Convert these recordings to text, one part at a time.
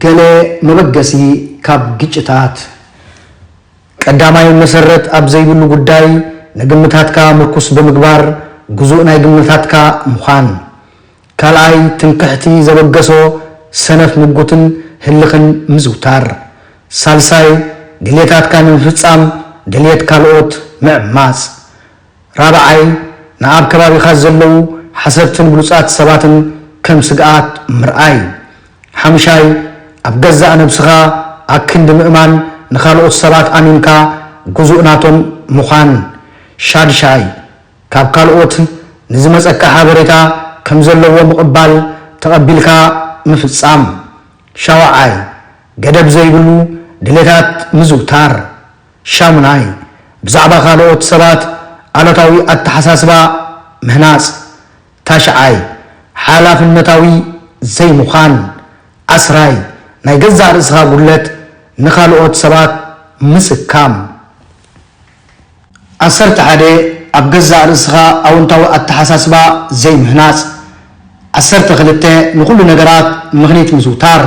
ገለ መበገሲ ካብ ግጭታት። ቀዳማይ፣ መሰረት ኣብ ዘይብሉ ጉዳይ ንግምታትካ ምርኩስ ብምግባር ግዙእ ናይ ግምታትካ ምዃን። ካልኣይ፣ ትምክሕቲ ዘበገሶ ሰነፍ ምጉትን ህልኽን ምዝውታር። ሳልሳይ፣ ድልየታትካ ንምፍጻም ድልየት ካልኦት ምዕማጽ። ራብዓይ፣ ንኣብ ከባቢኻ ዘለዉ ሓሰብትን ብሉጻት ሰባትን ከም ስግኣት ምርኣይ። ሓምሻይ፣ ኣብ ገዛእ ነብስኻ ኣክንዲ ምእማን ንኻልኦት ሰባት ኣሚንካ ግዙእ ናቶም ምዃን። ሻድሻይ፣ ካብ ካልኦት ንዝመጸካ ሓበሬታ ከም ዘለዎ ምቕባል ተቐቢልካ ምፍጻም። ሻውዓይ፣ ገደብ ዘይብሉ ድሌታት ምዝውታር። ሻሙናይ፣ ብዛዕባ ካልኦት ሰባት ኣሉታዊ ኣተሓሳስባ ምህናጽ። ታሽዓይ፣ ሓላፍነታዊ ዘይምዃን። ዓስራይ፣ ናይ ገዛእ ርእስኻ ጉድለት ንኻልኦት ሰባት ምስካም። ዓሰርተ ሓደ፣ ኣብ ገዛእ ርእስኻ ኣውንታዊ ኣተሓሳስባ ዘይምህናጽ። ዓሰርተ ክልተ ንኹሉ ነገራት ምኽኒት ምዝውታር።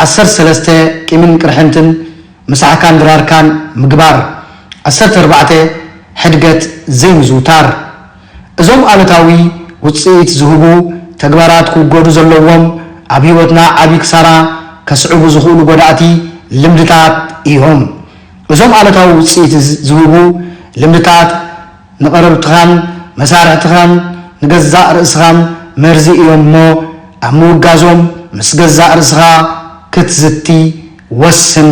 ዓሰርተ ሰለስተ ቂምን ቅርሕንትን ምሳሕካን ድራርካን ምግባር። ዓሰርተ ኣርባዕተ ሕድገት ዘይምዝውታር። እዞም ኣሉታዊ ውጽኢት ዝህቡ ተግባራት ክውገዱ ዘለዎም ኣብ ህይወትና ዓቢ ክሳራ ከስዕቡ ዝኽእሉ ጎዳእቲ ልምድታት እዮም። እዞም ኣሉታዊ ውጽኢት ዝህቡ ልምድታት። ንቐረብትኻን መሳርሕትኻን ንገዛእ ርእስኻን መርዚ እዮም እሞ፣ ኣብ ምውጋዞም ምስ ገዛእ ርእስኻ ክትዝቲ ወስን።